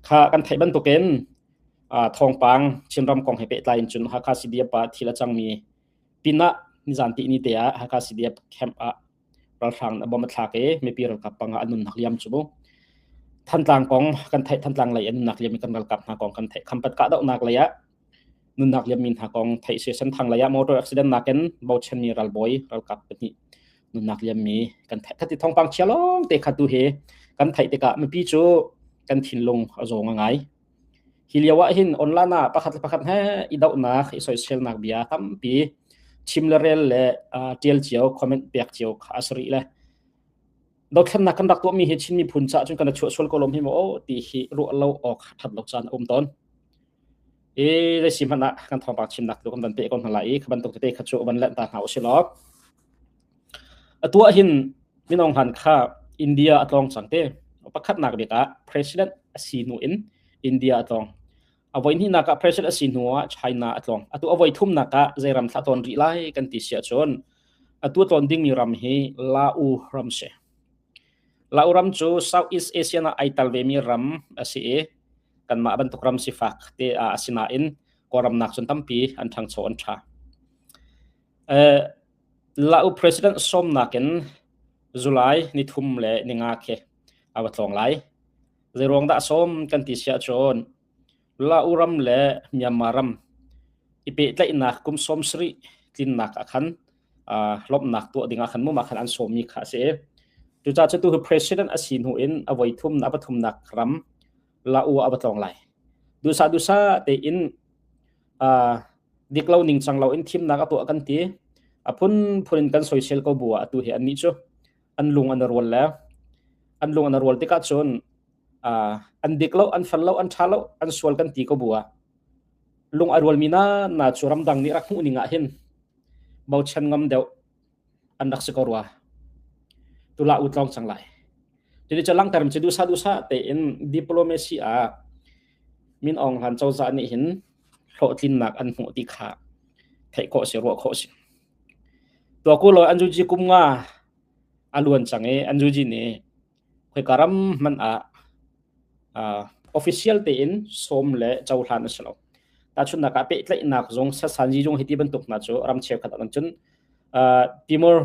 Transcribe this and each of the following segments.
Kha kan theih bantukin ah thawngpang Chinram kong he pehtlai in cun Hakha CDF ah thil a cangmi pinah nizan tihni te ah Hakha CDF camp ah ralhrang nih a bomb a thlak i mipi ralkap pangah an nunnak liam cu bu. Thantlang kong kan theih Thantlang lei an nunnak liam i kan ralkap hna kong kan theih. Khampat kahdohnak lei ah nunnak liammi hna kong theih si senthang lei ah motor accident nakin bochanmi ralbawi ralkap pahnih nunnak liammi kan theih khati thongpang chia long te kha tu he kan theih tikah mipi cu kan thinlung a zawng a ngai hi lio ah hin online ah pakhat le pakhat he i dohnak i soiselnak bia tampi chim le rel le ṭial cio comment pek cio kha a sari le dothlennak kan rak tuahmi hi Chin miphun caah cun kan chuah sual ko lom hi maw ti hi ruah lo awk that lo caan a um tawn i zeisi hmanh ah kan thawngpang chimnak tu kan van pe ko hna lai i kha bantuk tete kha cu van let ta hna u silo atuah hin minong han kha India a tlong cang te pakhatnak bik ah president asi nu in India a tlong avoi ni nak ah president asi hnu ah China a tlong atu avoi thum nak ah zeiram thla ton ri lai kan ti sia chun Atu tlawn dingmi ram hi La-u ram si. La-u ram cu Southeast Asia ah ai tel vemi ram a si i kanmah bantuk ram sifak te ah a si nain Kawlram nak cun tampi an ṭhangcho an ṭha. Eh, La-u president sawmnak in July ni thum le ni nga khi a va tlawng lai. Zei ruang dah a sawm kan ti siah cun La-u-ram le Myanmar ram i pehtlaihnak kum sawm sarih tlinnak ah khan uh, lawmhnak tuah dingah khan mumah khan an sawmmi kha a si. Cucaah cu tu hi president a si hnu in a voi thumnak a pathumnak ram la-u a va tlawng lai. Dusa dusa tein uh, dik lo ning cang lo in thimnak a tuah kan ti. A phun phun in kan soisel ko bu a tu hi an ni cu an lung an rual le an lung an rual tikah cun uh, an dik lo an fel lo an tha lo an sual kan ti ko bua lung a rual mi na na chu ramdang nih rak hmuh ning ah hin bo chen ngam deuh an rak si ko rua tula u tlong sang lai jadi cha langterm ci dusa dusa te in diplomacy a min ong hlan choza ni hin hlo tlin nak an hmu ti kha thei ko si ro ko si Tua ku lawi an zuji kum nga a luan cang i an zuji nih khoika ram hmanh ah uh, official tein sawm le cohlan a si lo. Tahchunnak ah pehtlaihnak zung sasanji zung hiti bantuk hna cu ram cheukhat an cun uh, Timor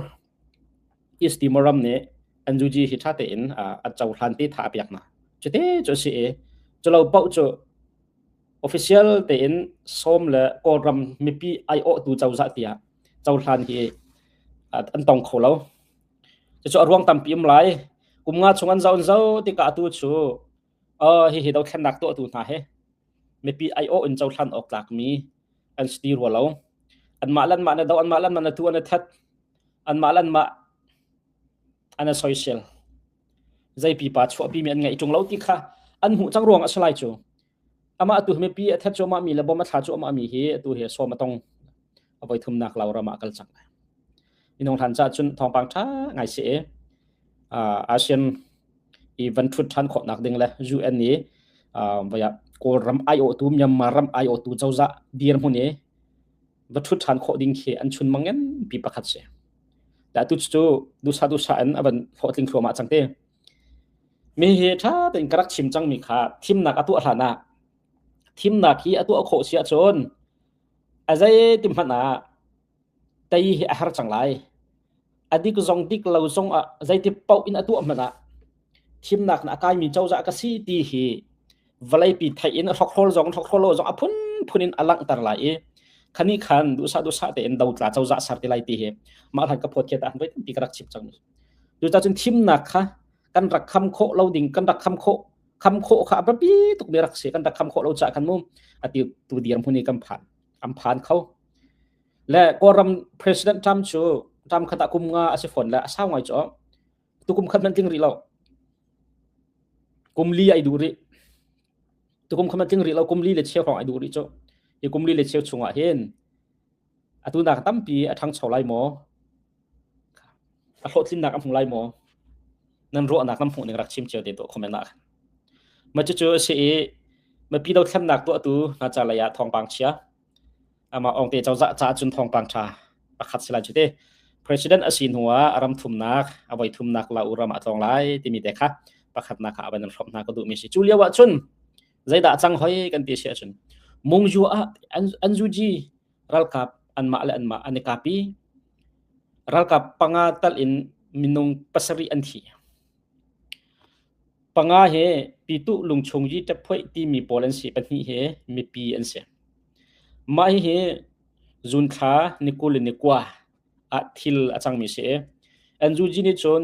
East Timor ram nih an zuji hi ṭha tein uh, a cohlan te tha a piak hna. Cu te cu si i, cu lo paoh cu official tein Sawm le Kawlram mipi aiawhtu cozah tiah cohlan hi an tong kho lo. Cucu a ruang tampi um lai. Kum nga chung an zaun zo tikah atu cu hihi dothlennak tuahtu hna he mipi aiawh in cohlan awk tlakmi an si ti rua lo. Anmah lan mah na do, anmah lan mah na tu an na that, anmah lan mah an a soisel. Zei pipa chuahpi mi an ngeih ṭung lo ti kha an hmuh cang ruang a si lai cu. Amah atu hi mipi a that cuahmah mi le bom a thla cuahmah mi hi atu hi sawm a tong. A voi thumnak Law ram ah kal cang. Minung hlan ca cun thawngpang ṭha ngai si e. ASEAN i van thut ṭhan khawh nak ding le UN i vaya Kawl ram IO tu Myanmar ram IO tu cozah dir hmun i va thut ṭhan khawh ding khi an chun mangen pi pakhat si. Da tu cu dusa dusa in a van hlawhtling thluamah cang te. Mi hi ṭha tein ka rak chim cangmi kha thimnak a tuah hlan ah thimnak hi a tuah khawh si ahcun a zeitin hmanh ah tei hi a har cang lai. A dik zong dik lo zong ah zeitin paoh in a tuah hmanh ah thimnak nih a kaimi cozah ka si ti hi vawleipi theih in hrokhrawl zong hrokhrawl lo zong a phunphun in a langhter lai i khani khan duhsah duhsah tein dotla cozah ser ti lai ti hi mah hlan ka phawt khi ta an voi tampi ka rak chim cang. Cucacun thimnak kha kan rak kham khawh lo ding kan rak kham khawh kham khawh kha a biapi tuk mi rak si kan rak kham khawh lo caah khan mu ati tu dir hmun i kan phan an phan kho le kawlram president Trump cu Trump khat ah kum nga a si fawn le a sau ngai cu tukum khat man tling rih lo kum li ai du rih tukum khat man tling rih lo kum li le cheu hrawng ai du rih cu hi kum li le cheu chungah hin atu nak tampi a ṭhangcho lai maw a hlawhtlinnak a hmu lai maw nan ruahnak nan hmuh ning rak chim cio te tuah comment ah ma cucu a si i mapi dothlemnak tuahtu hna ca lei ah thawngpang chia ama ongte cozah ca cun thawngpang ṭha pakhat si lai cu te president a si hnu ah ram thumnak a voi thumnak la uram a tlong lai timi te kha pakhatnak kha avan nan hrawm hna ka duh mi si cu lio ah cun zeidah a cang hoi kan ti si ahcun mungzu ah anzuji ralkap anmah le anmah an i kapi ralkap panga tal in minung pasarih an thi panga he pitu lungchung ji taphoih timi pawl an si pahnih he mipi an si mah hi zunthla nikul nikua ah thil a cangmi si anzuji nih cun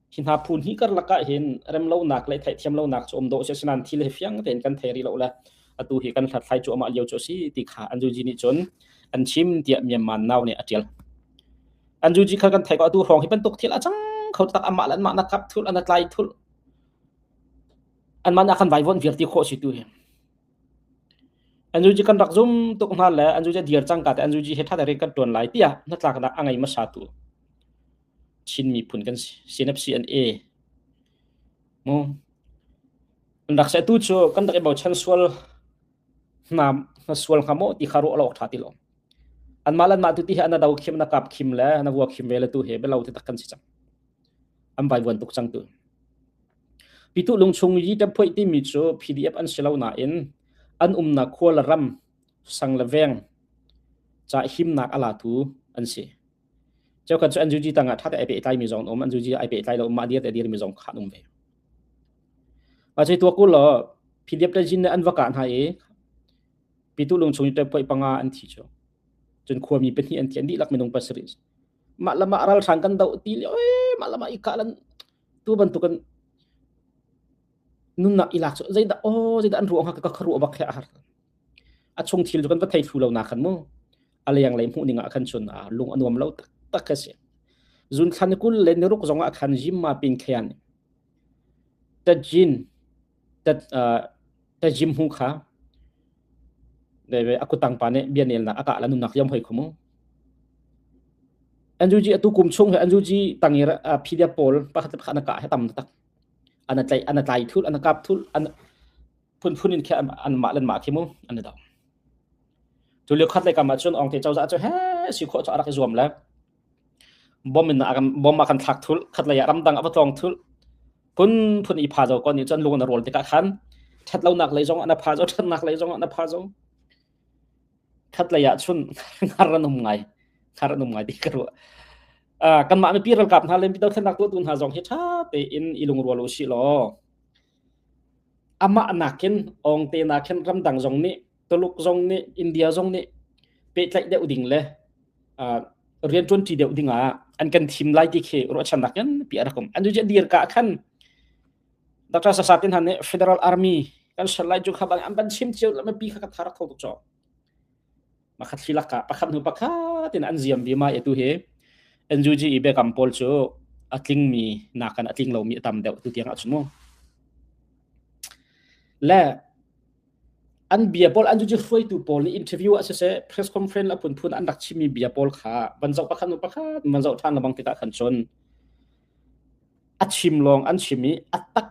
hi hna phun hi karlak ah hin remlonak le theihthiamlonak cu um dawh si asinain thil hi fiang tein kan thei rih lo le atu hi kan hlathlai cu amah lio cu a si ti kha anzuji nih cun an chim tiah Myanmar nau nih a tial anzuji kha kan thei ko atu hrawng hi bantuk thil a cang kho tak amah le anmah na kap thul ana tlai thul anman akan vaivon vialti kho si tu hi anzuji kan rak zum tuk hna le anzuji dir cang ka te anzuji he tha dare kan tuan lai tia na tlak na angei masatu Chin miphun kan sinapsi an e. Mu. An rak se tu cu kan rak i bochan sual na na sual ngamo ti kha ro lok tha ti lo. An mal an ma tu ti he an do khim na kap khim le na vua khim ve le tu he belo te tak kan si chang. An bai buan tuk chang tu. Pitu lung chung yi tem phoi ti mi cu PDF an silo na in an um na khua la ram sang la veng cha him nak ala tu an si. Cheu kan cu an zuji tang ah ṭha te ai pehtlai mi zong an um, an zuji ai pehtlai lo mah dir te dir mi zong kha an um ve. A chei tua ku lo PDF te jin ne an va ka hna i pitu lung chung te poi panga an thi chu. Cun khua mi pahnih an thi an dihlak minung pasarih. Mah lama ral hrang kan do ti le oi mah lama ika lan tu bantukan nunnak ilak chu zeinda o zeinda an ruang ha ka kharu abak khe har a chung thil chu kan va thei thu lo na kan mu a leng lei hmuh ning ah khan chun a lung a nuam lo tak tak ka si zun thlan kul le ni ruk zong ah khan jim ma pin khean ta jin ta ta jim hu kha deve akutang pa ne bianel na aka la nunak yam hoi khumu anju ji atu kum chung he anju ji tangir pdf pol pakhat pakhat na ka he tam tak ana tlai ana tlai thul ana kap thul ana phunphun in khe an mah len ma khi mu an da tu leo khat lai kam chun ong te chawza chu he si kho cha rak zuam le bom in bom ma kan thak thul khat lai ram dang avatong thul phun phun i pha zo kon ni chan lung na rol tika khan that lo nak lei zong ana pha zo that nak lei zong ana pha zo khat lai ya chun ngar ranum ngai ngar ranum ngai ti karo kan ma mi pir kap na len pidau than nak tu tu na zong hi tha te in ilung rol u si lo amah nakin awngte nakin ramdang zong nih Tuluk zong nih India zong nih pehtlaih deuh ding le uh, rian tuanti deuh ding ah an kan thim lai ti khi ruahchan nakin pi arakum an ju dir ka khan Dr. Sasatin han nih Federal Army kan shan lai ju kha bang an ban sim chiu lama pi kha ka thar tho to pakhat hi lakah pakhat hnu pakhat in an ziam vima e tu hi NUG i Biakam pawl cu a tlingmi nakan a tling lomi a tam deuh tu tiang ahcun mu le an bia pawl an cu hruaitu pawl nih interview ah siseh press conference la phun phun an rak chimmi bia pawl kha van zoh pakhat nu pakhat man zoh than lebang tikah khan cun a chim lawng an chim i a tak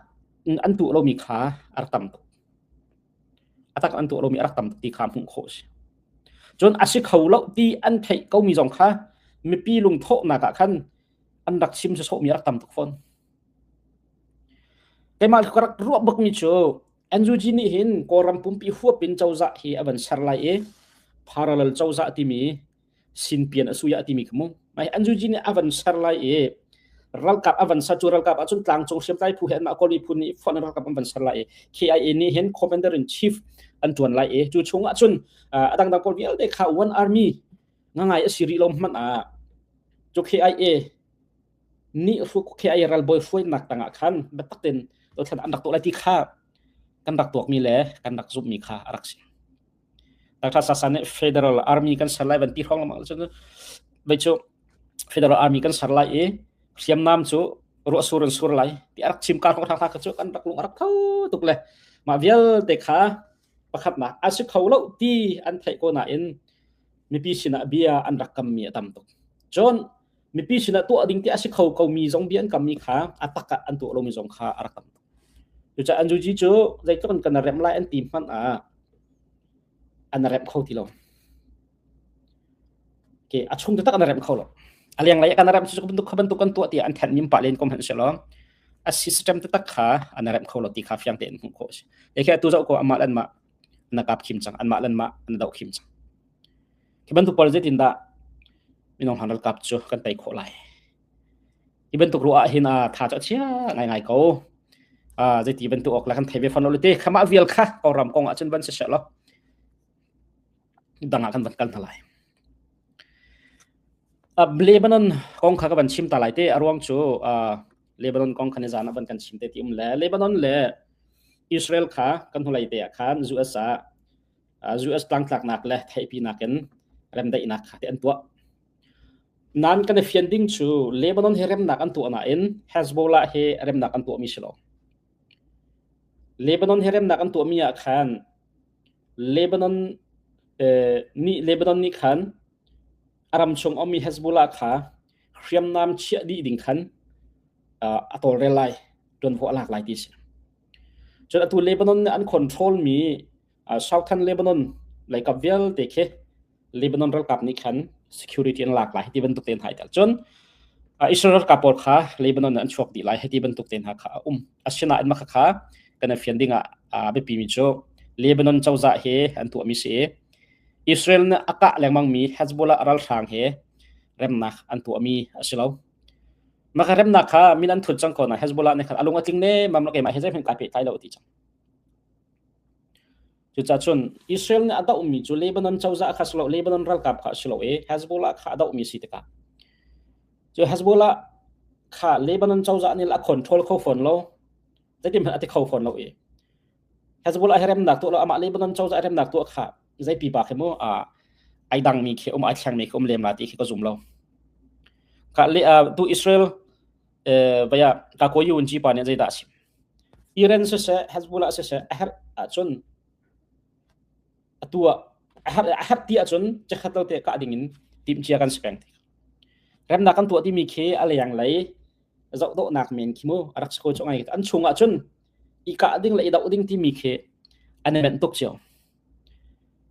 an tuh lomi kha a rak tam tuk atak an tuah lomi a rak tam ti kha hmuh khawh a si cun a si kho lo ti an theih komi zong kha mipi lungthawhnak ah khan an rak chim se sawhmi a rak tam tuk fawn keimah ka rak ruah bakmi cu NUG nih hin Kawlram pumpi huap in cozah hi a van ser lai i parallel cozah timi sin pian a suya ti mi kha mu mai an juji nih avan ser lai i ralkap avan sa cu ralkap ahcun tlangcung hriam tlai phu he anmah kawli phu nih phon ralkap an van ser lai i KIA nih hin commander in chief an tuan lai i cu chung ahcun adang dang pawl vialte kha one army ngangai a si rih lo hmanh ah cu KIA nih ruk KIA ralbawi hruainak tangah khan biatak tin dothlan an rak tuah lai ti kha kan rak tuak mi le kan rak zumh mi kha a rak si Qazakhstan nih Federal Army kan ser lai van ti hrawng lengmang cu vei cu Federal Army kan ser lai i hriamnam cu ruah sur in sur lai ti arak chim ka hrong thakha cu kan rak lung arak tho tuk le mah vialte kha pakhatnak an si kho lo ti an theih ko nain mipi sinah bia an rak kammi a tam tuk cun mipi sinah tuah ding ti a si kho komi zong bia an kammi kha a tak ah an tuah lomi zong kha a rak tam cucah an juji cu zeitluk in kan rem lai an ti hmanh ah an rem kho ti lo ke a chung te tak an rem kho lo a liang lai kan rem cu bantuk bantuk kan tuah ti an then nim pa len kom han se lo a system te tak kha an rem kho lo ti kha fiang te an hmu kho si e khe tu zau ko amal an ma na kap khim chang an ma lan ma an dau khim chang Hi bantuk puar zeitin dah minung han ralkap cu kan tei khawh lai. Hi bantuk ruah ah hin a tha cu a chia ngaingai ko. Uh, zeiti bantuk ok lah kan thei ve fan lo te khama vial kha ko ram kong ah cun van si se lo dang ah kan van kal hna lai uh, Lebanon kong kha ka van chim ta lai te a ruang cu uh, Lebanon kong khan zan van kan chim te ti um le Lebanon le Israel kha kan hnulei te ah khan zu asa US tlangtlaknak le theihpinak in remdaihnak kha te an tuah nan kan i fian ding cu Lebanon hi remnak an tuah nain Hezbollah hi remnak an tuahmi si lo Lebanon hi remnak an tuahmi ah khan Lebanon eh, ni Lebanon ni khan aram chung omi Hezbollah kha hriamnam chiah dih ding khan a tawlrel lai tuan ho alak lai ti si cun atu Lebanon ne an control mi Southern Lebanon leikap vialte khi Lebanon ralkap nih khan security an lak lai hi ti bantuk te hna tel cun Israel ralkap pawl kha Lebanon an chuak dih lai hi ti bantuk te hna kha a um asinain maka kha kan fian ding ah a biapi mi cu Lebanon cozah he an tuah mi si Israel nih a kah lengmang mi Hezbollah ralhrang he remnak an tuah mi a si lo maka remnak kha min an thut cang ko na Hezbollah ne khan alung atling ne mam la ke ma he zeihman kai pe kai lo ti cang Cucacun Israel nih a dohmi cu Lebanon cozah kha a si lo, Lebanon ralkap kha a si lo i Hezbollah kha a dohmi a si tikah. Cu Hezbollah kha Lebanon cozah nih a control kho fawn lo, zeitihmanh a ti kho fawn lo i Hezbollah hi remnak tuah lo, amah Lebanon cozah i remnak tuah kha zei pipa khi mu ai dangmi khi um ai thlengmi khi um lem la ti khi ka zum lo. Ka le tu Israel vaya ka ko yunji pa nih zeidah a sim? Iren siseh, Hezbollah siseh a herh ahcun atu ah a herh, a herh ti ahcun chikkhat tote kah ding in timhcia kan si peng ti. Remnak kan tuah timi khi a leng lei zoh dawhnak men khi mu a rak si ko chong ai. An chung ahcun i kah ding le i doh ding timi khi an i benh tuk cio.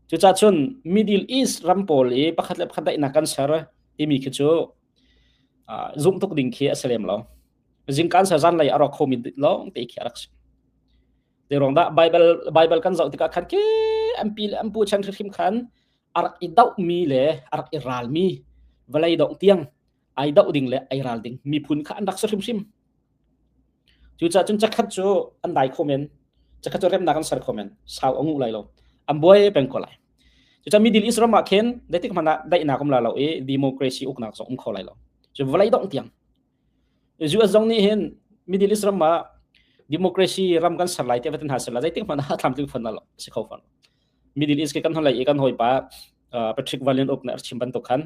Cucacun Middle East ram pawl i pakhat le pakhat daihnak kan ser timi khi cu zumh tuk ding khi a si lem lo zingkan ser zan lei a rawk khomi lawng te khi a rak si zeirong dah bible bible kan zoh tikah khan ke ampi le ampu chan hrim khan a rak i doh mi le a rak i ral mi vlei dong tiang ai doh ding le ai ral ding miphun kha an rak si hrim hrim cu ca cun cakhat cu an dai khomen cakhat cu remnak an ser khomen sau angu lai lo an buai peng ko lai Cuca middle east ram ah khin zeitik hmanh ah daihnak um la lo i democracy uknak zong um kho lai lo cu vawlei dongh tiang US zong nih hin middle east ram ah democracy ram kan ser lai ti vetan hna ser lai zeitik hmanh ah thlamtling phun lo si kho fan middle east ke kan holei i kan hoi pa patrick valian uk ne archim bantuk khan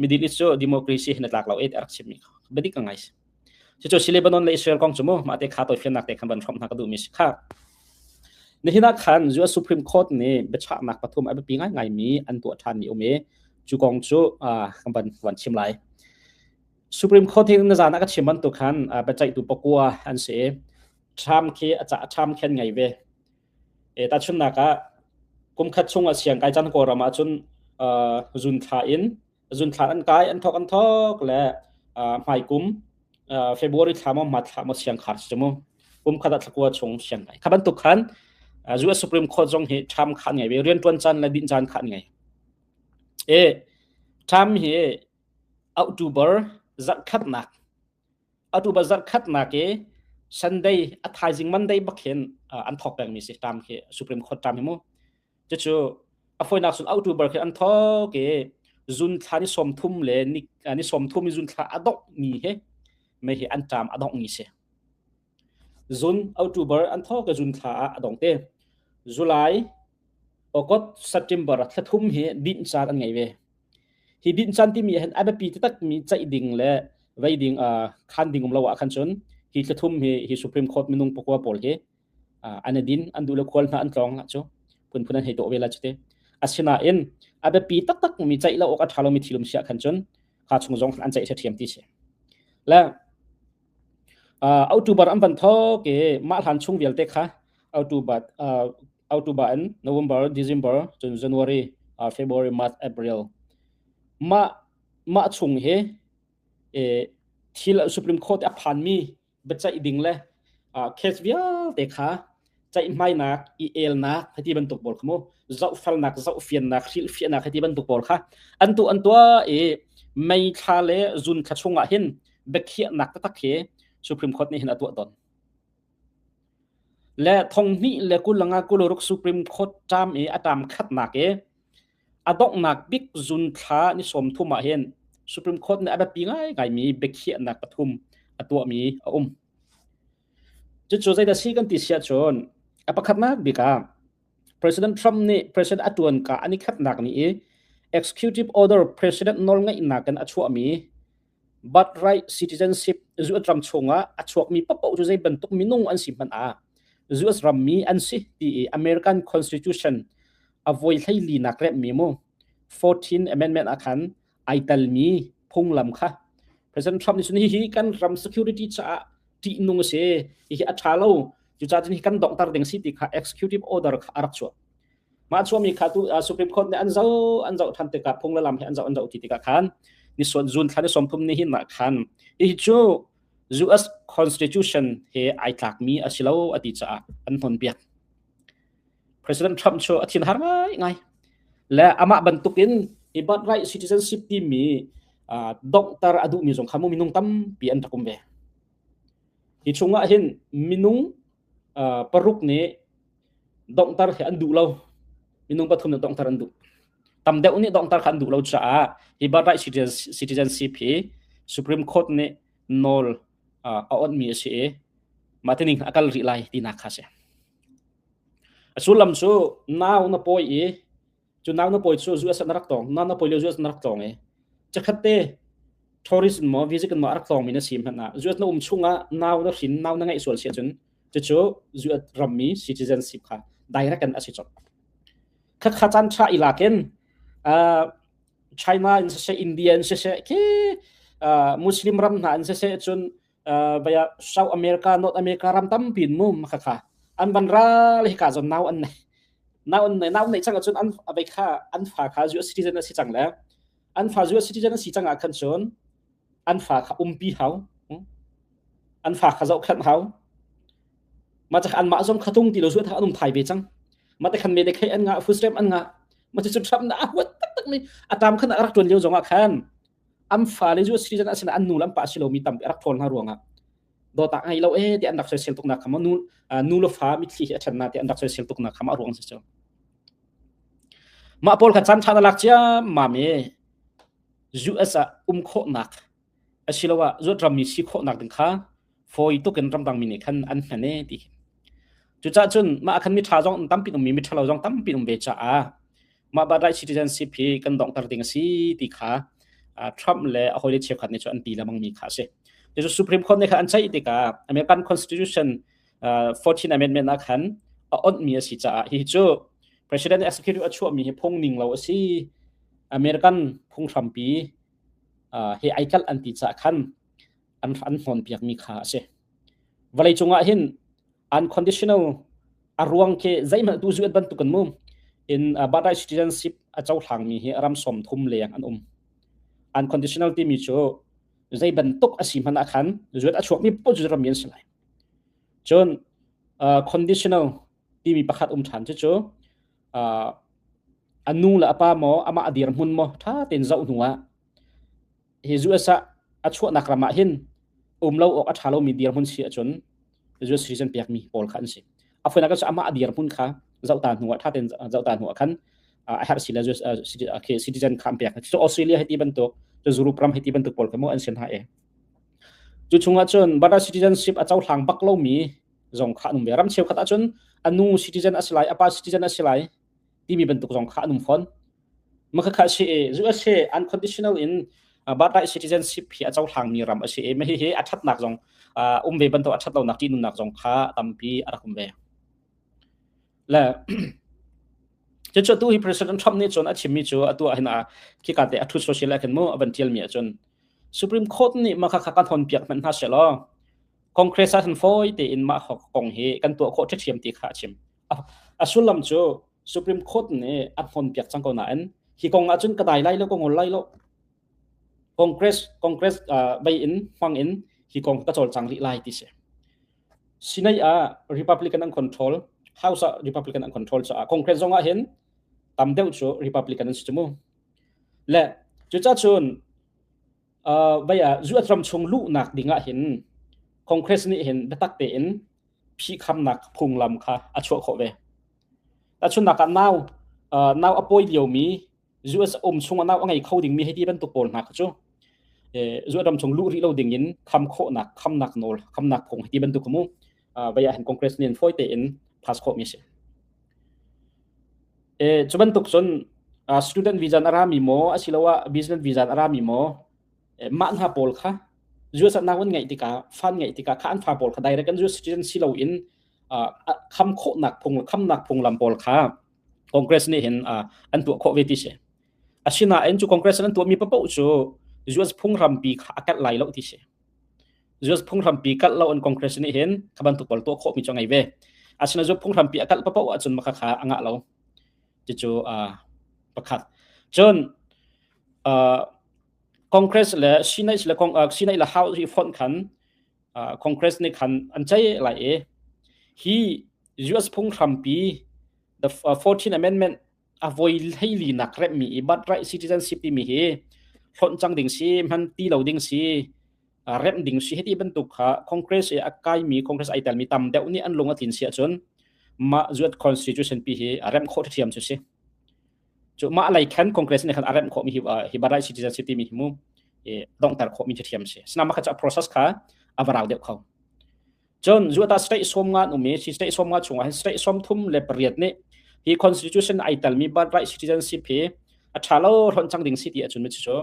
middle east cu democracy hin tlak lo e arak chim mi kha badi ka ngai Cucu si Lebanon le Israel kong cu mu mahte kha toifiannak te khan van hrom hna ka duhmi si kha nihin ah khan US Supreme Court nih biachahnak pathum a biapi ngaingai mi an tuah ṭhan mi um i cu kong cu kan van van chim lai Supreme Court hi na zan ah ka chim bantuk khan biaceihtu pakua an si Trump khi a cah Trump khen ngai ve e ta chunnak ah kum khat chung a siang kai chan ko ram ah cun zun thla in zunthlan an kai an thok an thok le hmai kum February thla mo mat thla mo siang khar chumu kum khata thlakua chung siang ngai khaban tuk khan US Supreme Court zong hi tham khan ngai ve rian tuan chan le din chan khan ngai e tham hi October zat khat nak October zat khat na ke Sunday a thaizing Monday bakhin an thok peng mi si tam ke Supreme Court tam hi mu cucu a foinak sun autu bar khi an thok i zun thla ni som thum le ni ni som thum i zun thla adok ni he mei hi an tam adok ni se zun october an tho ke zun thla a dong te july august september thla thum hi din chan an ngai ve hi din chan ti mi hen abepi te tak mi chai ding le vai ding a khan ding um lo wa khan chun hi thla thum hi hi supreme court minung pakwa pol ke an din an du le khual hna an tlawng cu phunphun an hei to ve la chite asinain a biapi taktak mi ceih lo awk a tha lomi thilum siah khan cun kha chung zong an ceih ṭhiam ti si le October an van tho ke mah hlan chung vialte kha October October and November December cun January February March April mah mah chung he thil Supreme Court a phan mi biacaih ding le case vialte kha ceihmainak i elnak hati bantuk pawl kha mu zohfelnak zohfiannak hrilhfiahnak hati bantuk pawl kha an tu an tua i meithla le zun thla chungah hin biakhiahnak taktak hi supreme court nih hin a tuah don le thonghni le kulanga kuluruk supreme court tam i a tam khatnak i a donghnak bik zun thla ni sawm thum ah hin Supreme Court nih a biapi ngaingaimi biakhiahnak pathum a tuahmi a um. Cucu zeidah si kan ti siah cun a pakhatnak bik ah President Trump nih President a tuan ka an i khatnak ni i executive order President nawlngeihnak in a chuahmi Birthright citizenship US ram chungah a chuakmi papoh cu zei bantuk minung an si hmanh ah US rammi an si ti i American Constitution a voi hleilinak remmi mu 14 amendment ah khan ai telmi phunglam kha President Trump nih sun hi kan ram security caah ṭihnung a si hihi a ṭha lo cucaah cun hi kan donghter ding si ti kha executive order kha a rak chuah mah chuami kha tu Supreme Court nih an zoh an zoh than tikah phung le lam he an zoh an zoh ti tikah khan ni suan June thla ni sawmthum ni hin na khan hi cu US constitution he ai tlakmi a si lo a ti caah an hnon biak President Trump cu a thin har ngai ngai le amah bantukin i birthright citizenship timi doktor a duhmi zong kha mu minung tampi an rak um ve hi chungah hin minung paruk nih donghtar khi an duh lo minung pathum nih donghtar an duh tam deuh nih donghtar kha an duh lo caah hi birthright citizenship hi supreme court nih nawl a onhmi a si i mah tining a kal rih lai tinak kha si a sullam cu nau na pawi i cu nak na poi chu zu asan rak tong nan na poi le zu asan rak tong e chakhat te tourism mo visit kan ma rak tong mi na sim hna zu na um chunga now na hrin now na ngai sual sia chun chu chu zu ram mi citizenship kha direct an asi chop khat kha chan cha ila ken uh, China in se se India in se se ke uh, Muslim ram na in se se chun baya South America North America ram tampi in mum kha kha an van ra le ka zon nau an nei nau an nei nau nei chang cun an avei kha an fa kha US citizen asi chang le an fa US citizen asi chang ah khan cun an fa kha umpi hau an fa kha zau khan hau ma chak an ma zong khatung ti lo zuan tha anum thai ve chang ma te khan me de khai an nga footstep an nga ma chu chum na huat tak tak mi atam khan rak tuan lio zong ah khan an fale cu citizen asinain an nu le an pa si lomi tampi a rak ṭhawl hna ruangah dawtah ngei lo e ti an rak soisel tuk nak kha nu nu le fa mitthli hi a ṭhan na ti an rak soisel tuk nak kha a ruang si cu mah pawl kha chan ṭhan a lak ciam mam e US ah um khawhnak asiloah zuat rammi si khawhnak ding kha fawi tuk in ramdangmi nih khan an hman e ti cucah cun mah khan mi ṭha zong tampi ummi mi ṭhalo zong tampi um ve caah mah ba dai citizenship hi kan donghter ding a si ti kha Trump le a hawile cheukhat nih cu an ti lemang mi kha a si cucu Supreme Court nih khan an ceih tikah American Constitution 14 amendment ah khan a onhmi a si caah hi cu president executive a chuahmi hi phungning lo a si American phunghrampi he ai kalh an ti caah khan an an hlawnpiakmi kha a si vawleicung ah hin unconditional a ruang khi zeihmanh tu zuat bantuk kan mu in Bandai citizenship a cohlangmi hi ram som thum leng an um unconditional timi cu zei bantuk a si hman ah khan zuat a chuakmi pun cu ram si lai cun conditional timi pakhat um than cu cu a nu le a pa maw ama a dir hmun maw tha tein zoh hnu ah hi USA a chuahnak ram ah hin um lo awk a ṭha lomi dirhmun si ahcun US citizen pekmi pawl kha an si. A fuan ah amah a dirhmun kha zohta hnu ah ṭhaten zohta hnu ah khan a herh si le US citizen kha an pek. Cu Australia hiti bantuk cu Zurub ram hiti bantuk pawl kha mu an sin ha e. Cu chung ahcun Bada citizenship a cohlang bak lomi zong kha anum ve. Ram cheu khat ahcun a nu citizen a si lai, a pa citizen a si lai, timi bantuk zong kha an um fawn makhakha si zu ase unconditional in barkai citizenship hi a cohlangmi ram a si e mahi hi a thatnak zong um ve banto a that lonak ti nunnak zong kha tampi a rak um ve le cu tu hi president trump nih cun a chimmi cu atu ah hin a khi ka te a thu social akan mu avan tial mi cun supreme court nih makha kha kan hon piak man hna se law congress a han foi te in ma kong hi kan tuah khawh ṭhiam ti kha a chim a sullam cu Supreme Court nih a hnon piak cang ko nain hi kong ahcun ka dai lai lo ka ngol lai lo Congress Congress uh, bei in hmang in hi kong ka cawlcang rih lai ti si sinai ah Republican an control House ah Republican an control caah Congress zong ah hin tam deuh cu Republican an si mu le cucahcun vai ah zuat ram chung luhnak ding ah hin Congress nih hin biatak tein phihkhamnak phunglam kha a chuah khawh ve. Tachunnak ah nau nau a pawi liomi zuat um chung nau a ngei kho dingmi hei ti bantuk pawl hna cu zuat ram chung luh rih lo ding in kham khawhnak khamnak nawl khamnak phung hei ti bantuk mu vaya han congress nin foi te in pass kho mi si e chu bantuk sun student visa arami mo asilawa business visa arami mo ma na pol kha US na wan ngai tika fan ngai tika ka an fa pol kha direct an US citizen silo in kham kho nak phung kham nak phung lam pol kha congress ni hin an tu kho ve ti se asina en chu congress an tu mi pa po chu US phung ram pi kha akat lai lo ti se Zuas phunghrampi kalh lo an Congress nih hin kha bantuk pawl tuah khawhmi cu ngei ve. Asina zu phunghrampi a kalh papoh ahcun makha kha a ngah lo. Ticu pakhat. Cun Congress le Senate le Senate le House hi font khan Congress nih khan an cei lai i hi US phunghrampi the 14 amendment a voi hleili nak remmi i but right citizenship timi hi hlonh cang ding si hman ti lo ding si remh ding si heti bantuk kha congress i a kaimi congress ai telmi tam deuh nih an lung a tlin si ahcun mah zuat constitution pi hi a remh khawh thiam cu si cu mah lei khan congress nih khan a remh khawh mi hi hi but right citizenship timi hi mu dongter khawh mi thiam si sina mah kha process kha avarau deuh kho Cun zuata state som nga um i si state som nga chungah hin state som thum le pariat nih hi constitution ai telmi birth right citizenship hi a tha lo hlonh cang ding si ti ahcun cu cu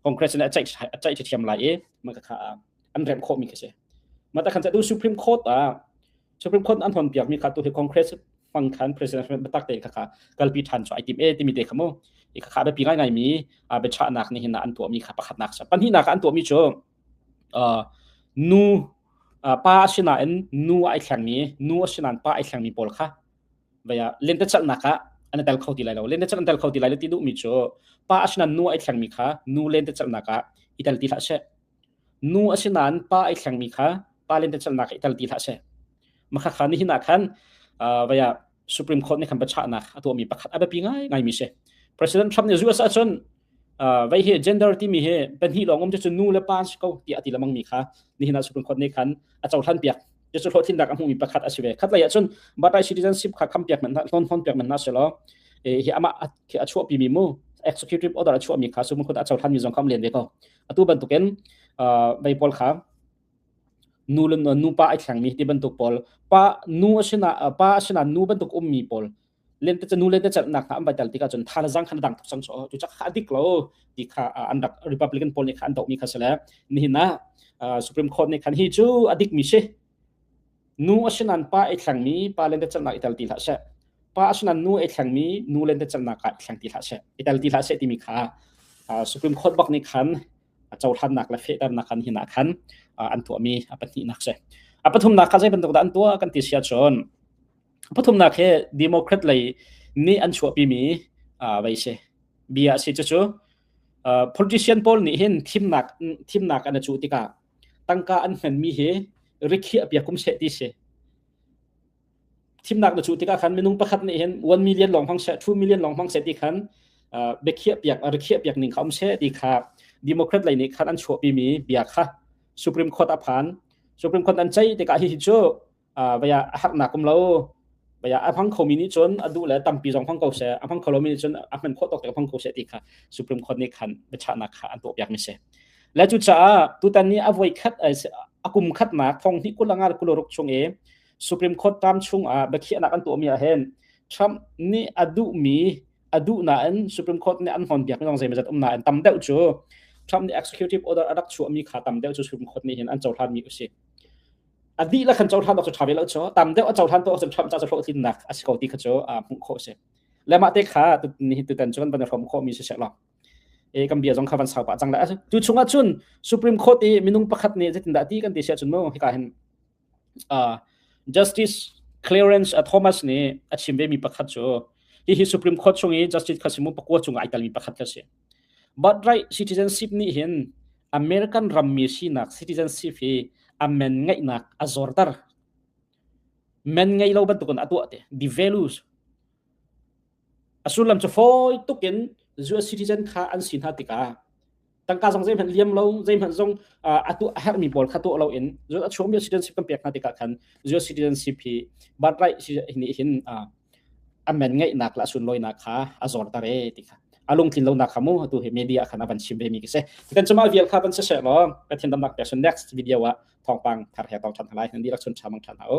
congress in a ceih a ceih thiam lai i maka kha an rem khawh mi ka si mata khan tu supreme court a supreme court an hon piak mi kha tu hi congress hmang khan president batak te kha kalpi than cho ai tim e timi te khamu i kha be pi ngai ngai mi a be cha nak ni hin an tuwa mi kha pakhat nak sa pan hi nak an tuwa mi chu nu pa a si nain nu ai thlengmi nu a si nain pa ai thlengmi pawl kha vaya lentecelhnak ah an tel kho ti lai lo lentecelh an tel kho ti lai lo ti duhmi cu pa a si nain nu ai thlengmi kha nu lentecelhnak ah i tel ti hlah seh nu a si nain pa ai thlengmi kha pa lentecelhnak i tel ti hlah seh makha kha nihin ah khan vaya Supreme Court nih khan biachahnak a tuahmi pakhat a biapi ngaimi si. President Trump nih zu asa cun vai hi gender timi hi pahnih lawng um cu nu le pa si ko ti a ti lamang mi kha nihin ah Supreme Court nih khan a cohlan piak cu cu hlawhtlinnak a hmumi pakhat a si ve khat lei ah cun budai citizenship kha kham piak man hlon hon piak man na se lo hi ama a chuah pi mi mu executive order a chuah mi kha Supreme Court a cohlan mi zong kham len ve ko atu bantukin vai pawl kha nu le nupa ai thlengmi ti bantuk pawl pa nu a sinah pa sinah nu bantuk ummi pawl lente cu nu lente celhnak hna an vai tel tikah cun thaizang khan dang thok sang cu cak ha dik lo ti kha an rak republican pawl nih khan an dohmi kha si le nihin ah supreme court nih khan hi cu a dikmi si nu a sinan pa ai thlengmi pa lente celhnak i tel ti hlah seh pa a sinan nu ai thlengmi nu lente celhnak ah thleng ti hlah seh i tel ti hlah seh timi kha supreme court bak nih khan cohlannak le fehternak khan hi nak khan an tuahmi a pahnihnak si a pathumnak kha zei bantuk dah an tuah kan ti sia chun pathumnak he democrat lei nih an chuahpimi vai si bia si cu politician pawl nih hin thimnak thimnak an cu tikah tangka an hmanmi hi rikhi apiak kum se ti si thimnak na cuh tikah khan minung pakhat nih hin one million lawng hmang seh two million lawng hmang seh ti khan biakhiah piak rikhiah piak ning kha um seh ti kha democrat lei nih khan an chuahpimi bia kha supreme court a phan supreme court an cei tikah hi cu vaya a harnak kum lo vaya a hmang khomi nih cun a duh le tampi zong hmang ko se a hmang kholomi nih cun a hman khawh tok hmang ko se ti kha supreme court nih khan biachahnak kha an tuah piakmi se le cu caah tutan ni a voi khat a kum khatnak thong hnih kulanga kuloruk chung i Supreme Court tam chungah biakhiahnak an tuahmi ahhin Trump nih a duhmi a duh nain Supreme Court nih an hnawnpiak zong zeimazat um nain tam deuh cu Trump nih executive order a rak chuahmi kha tam deuh cu Supreme Court nih hin an cohlanmi usih a dih la khan cohlan awk cu ṭha ve lo cu tam deuh a cohlan tuah awk cun Trump caah hlawh tlinnak a si ko ti kha cu hmuh khawh a si le mah te kha nihin tutan cun van i hrawm khawhmi si seh law e kan bia zong kha van sau pah cang le tu chungah cun Supreme Court i minung pakhat nih zeitindah ti kan ti siah cun mu hika hin Justice Clarence Thomas nih a chim vemi pakhat cu hihi Supreme Court chung i Justice khasimu pakua cung ah ai telmi pakhat khi a si. Birthright citizenship nih hin American rammi sinak citizenship hi a men ngeihnak a zorter. Men ngei lo bantukin a tuah te. The values A sullam cu fawi tuk in US citizen kha an si hna tikah tangka zong zeihmanh liam lo zeihmanh zong a tuah a herhmi pawl kha tuah lo in a chuahmi citizenship kan pek hna tikah khan US citizenship hi birthright nih hin amen ngeihnak le a sunlawinak kha a zorter e ti kha a lungtlin lonak kha mu atu hi media khan a van chim ve mi khi si kan cuma vial kha van si se law ka thin damnak pek sun next video ah thawngpang thar he tong than halai nan dirak sun chamang than ha u